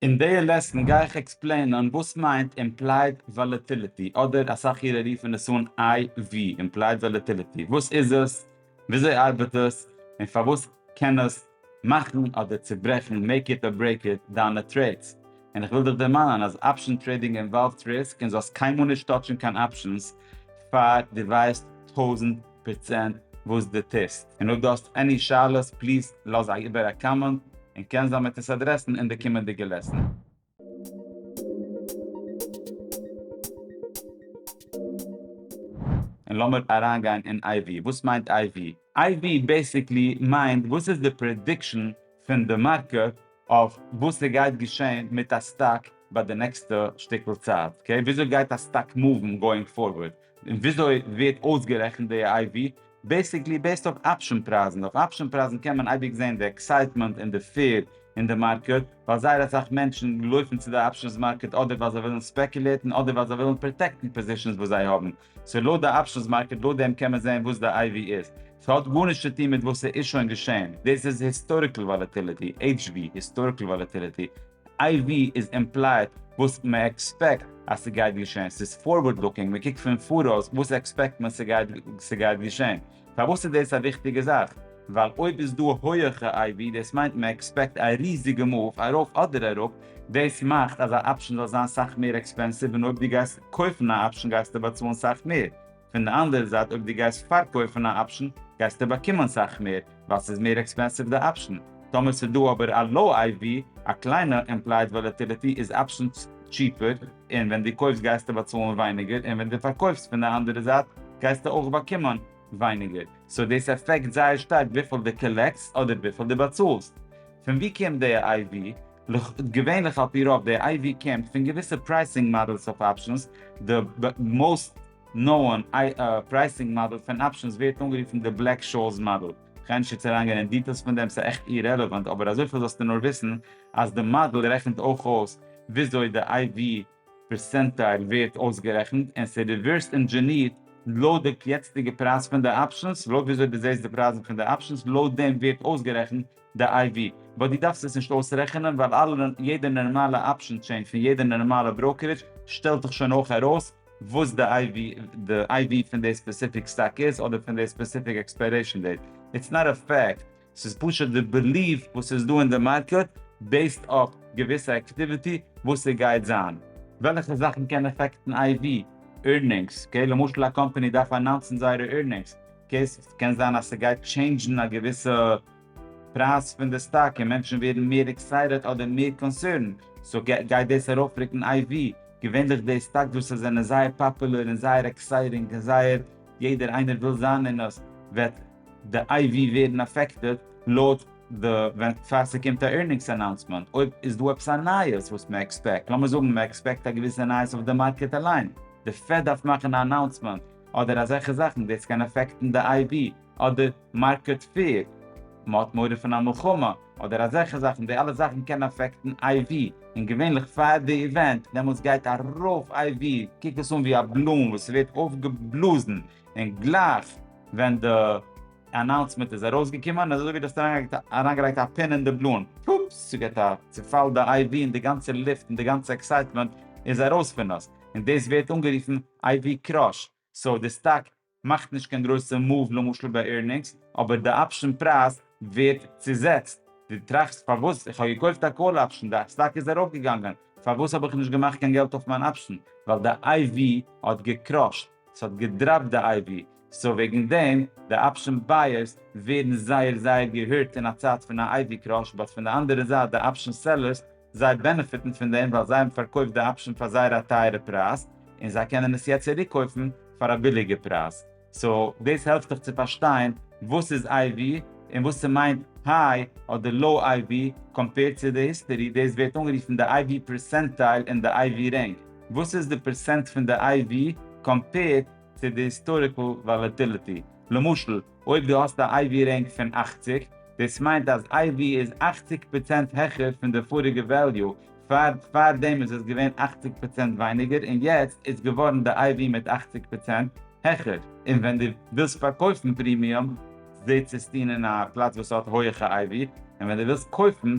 אין די לעסן גיי איך עקספלעינען וואס מיינט אימפלייד וואלעטיליטי אדער אסאך אירע רופן עס אן איי ווי, אימפלייד וואלעטיליטי, וואס איז עס, וויאזוי ארבעט עס, און פארוואס קען עס מאכן אדער צוברעכן, מעיק איט אר ברעיק איט, דיינע טרעידס. און איך וויל דיך דערמאנען אז אפשן טרעידינג אינוואלווט ריסק און זאלסט קיינמאל נישט טאטשן קיין אפשנס פאר דו ווייסט טויזנט. פראצענט וואס די טוסט, און אויב די האסט עני שאלות פליז לאז איבער א קאמענט און קען זיין מ'עט עס אדרעסן אין די קומענדיגע לעסן. און לאמיר אריינגיין אין IV. וואס מיינט IV? IV בעיסיקלי מיינט וואס איז די פרעדיקשן פון די מארקעט אויף וואס ס'גייט געשען מיט א סטאק ביי די נעקסטע שטיקל צייט. אקעי? וויאזוי גייט א סטאק מאוון גאואינג פארווערד? און וויאזוי ווערט אויסגערעכנט די איי ווי? בעסיקלי בעיסד אויף אפשען פרייזן, אויף אפשען פרייזן קען מען אייביג זען די עקסייטמענט און די פיער אין די מארקעט, ווייל זייער אסאך מענטשן לויפן צו די אפשענס מארקעט אדער ווייל זיי ווילן ספעקולירטן אדער ווייל זיי ווילן פראטעקטן פאזישאנס וואס זיי האבן, סאו לויט די אפשענס מארקעט לויט דעם קען מען זען וואס די איי ווי איז, ס'האט גארנישט צו טון מיט וואס ס'איז שוין געשען, דאס איז היסטאריקל וואלעטיליטי, HV, היסטאריקל וואלעטיליטי, איי ווי איז אימפלייד וואס מען עקספעקט אז ס'גייט געשען, ס'איז פארווארד לוקינג, מען קוקט פון פאראויס וואס עקספעקט מען ס'גייט געשען. פארוואס איז דאס א וויכטיגע זאך? ווייל אויב איז דא הויעכע איי ווי דאס מיינט מען עקספעקט א ריזיגע מאוו ארויף אדער אראפ, דאס מאכט אז א אפשן זאל זיין סאך מער עקספענסיוו און אויב דו גייסט קויפן א אפשן גייסטו באצאלן סאך מער. פון די אנדערע זייט אויב דו גייסט פארקויפן א אפשן גייסטו באקומען סאך מער ווייל ס'איז מער עקספענסיוו די אפשן. טאמער ס'איז דא אבער א לאו איי ווי, א קליינע, אימפלייד וואלעטיליטי איז אפשן טשיפער און ווען דו קויפסט גייסטו באצאלן ווייניגער און ווען דו פארקויפסט פון די אנדערע זייט גייסטו אויך באקומען ווייניגער סאו דאס עפעקט זייער שטארק וויפיל דו קאלעקטסט אדער וויפיל דו באצאלסט. פון ווי קומט די איי ווי? לכ' איז געווענליך על פי רוב די איי ווי קומט פון געוויסע פרייסינג מאדעלס אויף אפשענס, די מאוסט נאון פרייסינג מאדעל פון אפשענס ווערט אנגערופן די בלעק שאוס מאדעל, כ'גיי נישט יעצט אריינגיין אין דיטעילס פון דעם ס'איז עכט אירעלעווענט אבער אזויפיל זאלסטו נאר וויסן אז די מאדעל רעכנט אויך אויס וויאזוי די איי ווי פערסענטייל ווערט אויסגערעכנט און ס'איז ריווערס אינדזשענירט לויט די יעצטיגע פרייז פון די אפשענס, לויט וויאזוי דו זעסט די פרייזן פון די אפשענס לויט דעם ווערט אויסגערעכנט די איי ווי, באט דו דארפסט עס נישט אויסרעכענען ווייל אלע יעדע נארמאלע אפשען טשעין פון יעדע נארמאלע בראוקערידזש שטעלט דיך שוין אויך ארויס וואס די איי ווי די איי ווי פון די ספעסיפיק סטאק איז אדער פון די ספעסיפיק עקספיירעישאן דעיט, איטס נאט א פעקט ס'איז פשוט די בעליוו וואס איז דא אין די מארקעט בעיסד אויף געוויסע עקטיוויטי וואס ס'גייט זיין. וועלכע זאכן קען עפעקטן איי ווי עירנינגס, קעי למשל א קאמפעני דארף אנאונסן זייערע עירנינגס קעי ס'קען זיין אז ס'גייט טשעינדזשן א געוויסע פרייז פון די סטאק און מענטשן ווערן מער עקסייטעד אדער מער קאנסערנד סאו גייט דאס ארויפרוקן איי ווי געווענליך די סטאקס וואס זענען זייער פאפולער און זייער עקסייטינג און זייער יעדער איינער וויל זיין אין עס וועט די איי ווי ווערן אפעקטעד לויט די ווען פאר ס'קומט א ערנינגס אנאונסמענט, אויב איז דא עפעס א נייעס וואס מען עקספעקט, לאמיר זאגן מען עקספעקט א געוויסע נייעס אויף די מארקעט אליין, די פעד דארף מאכן א אנאונסמענט אדער אזעלכע זאכן, דאס קען אפעקטן די איי ווי, אדער מארקעט פעיר, מען האט מורא פון א מלחמה, אדער אזעלכע זאכן, די אלע זאכן קען אפעקטן איי ווי, און געווענליך פאר די איווענט דעמאלטס גייט ארויף איי ווי, קוקט עס אן ווי א באלון וואס ווערט אויפגעבלאזן, און גלייך ווען די אנאונסמענט איז ארויסגעקומען איז אזוי ווי דו האסט אריינגעלייגט א פין אין די בלון, פופס! ס'געט א צופאל די איי ווי און די גאנצע לופט און די גאנצע עקסייטמענט איז ארויס פון אונז, און דאס ווערט אנגערופן איי ווי קראש, סאו די סטאק מאכט נישט קיין גרויסע מאוו למשל ביי עירנינגס, אבער די אפשן פרייז ווערט צוזעצט, דו טראכסט פארוואס איך האב געקויפט א קאל אפשן, די סטאק איז ארויפגעגאנגען, פארוואס האב איך נישט געמאכט קיין געלט אויף מיין אפשן, ווייל די איי ווי האט געקראשט. ס'האט געדראפט די אייווי, סאו וועגן דעם די אפשען בייערס ווערן זייער זייער געהירט אין א צייט פון א אייווי קראש, באט פון די אנדערע זייט די אפשען סעלערס זיי בענעפיטן פון דעם ווייל זיי האבן פארקויפט די אפשען פאר זייער א טייערע פרייז און זיי קענען עס יעצט צוריק קויפן פאר א ביליגע פרייז, סאו דאס העלפט דיך צו פארשטיין וואס איז אייווי און וואס ס'מיינט היי אדער לאו אייווי קאמפעירד צו די היסטערי, דאס ווערט אנגערופן די אייווי פערסענטייל און די אייווי רענג. וואס איז די פערסענט פון די iv קאמפעירד צו די היסטאריקל וואלעטיליטי? למשל אויב דו האסט א iv רענק פון אַכציק, דאס מיינט אז iv איז אַכציק פראצענט העכער פון די פאריגע וועליו, פאר פאר דעם איז עס געווען אַכציק פראצענט ווייניגער און יעצט איז געווארן די iv מיט אַכציק פראצענט העכער. און ווען דו ווילסט פארקויפן פרימיום זעצסטו אין א פלאץ וואס האט הויעכע iv, און ווען דו ווילסט קויפן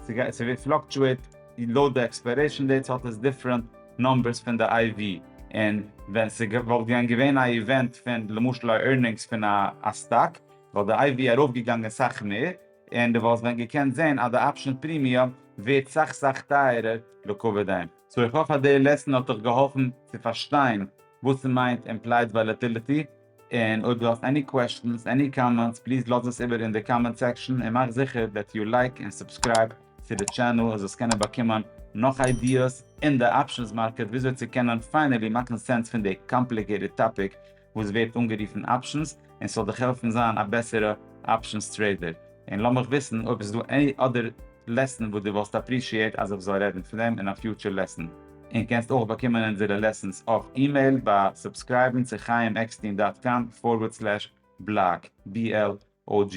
ס'גייט ס'ווערט פלאקטשועט לויט די עקספיירעישן דעיטס האט עס דיפרענט נומבערס פון די אייווי און ווען ס'וואלט ווען געווען א איווענט פון למשל א ערנינגס פון א סטאק וואלט די אייווי ארויפגעגאנגען סאך מער און די וואלסט ווען געקענט זעהן אז די אפשען פרימיום ווערט סאך סאך טייערער לקבע דעם. סאו איך האף אז די לעסן האט דיך געהאלפן צו פארשטיין וואס ס'מיינט אימפלייד וואלעטיליטי. און אויב דו האסט עני קוועשטענס עני קאמענטס פליז לאז עס איבער אין די קאמענט סעקשאן און מאך זיכער דעט יו לייק און סובסקרייב צו די טשענעל אז אונז קענען באקומען נאך איידיעס אין די אפשענס מארקעט וויאזוי צו קענען פיינעלי מאכן סענס פון די קאמפליקעיטעד טאפיק וואס ווערט אנגערופן אפשענס און ס'זאל דיך העלפן זיין א בעסערע אפשענס טרעידער. און לאז מיך וויסן אויב עס איז דא עני אדער לעסן וואס דו וואלסט אפרישיעט אז איך זאל רעדן פון דעם אין א פיוטשער לעסן. און קענסט אויך באקומען אונזערע לעסנס אויף אימעיל ביי סובסקרייבן צו חיים עקסטין דאט קאם פארווערד סלעש בלאג, BLOG.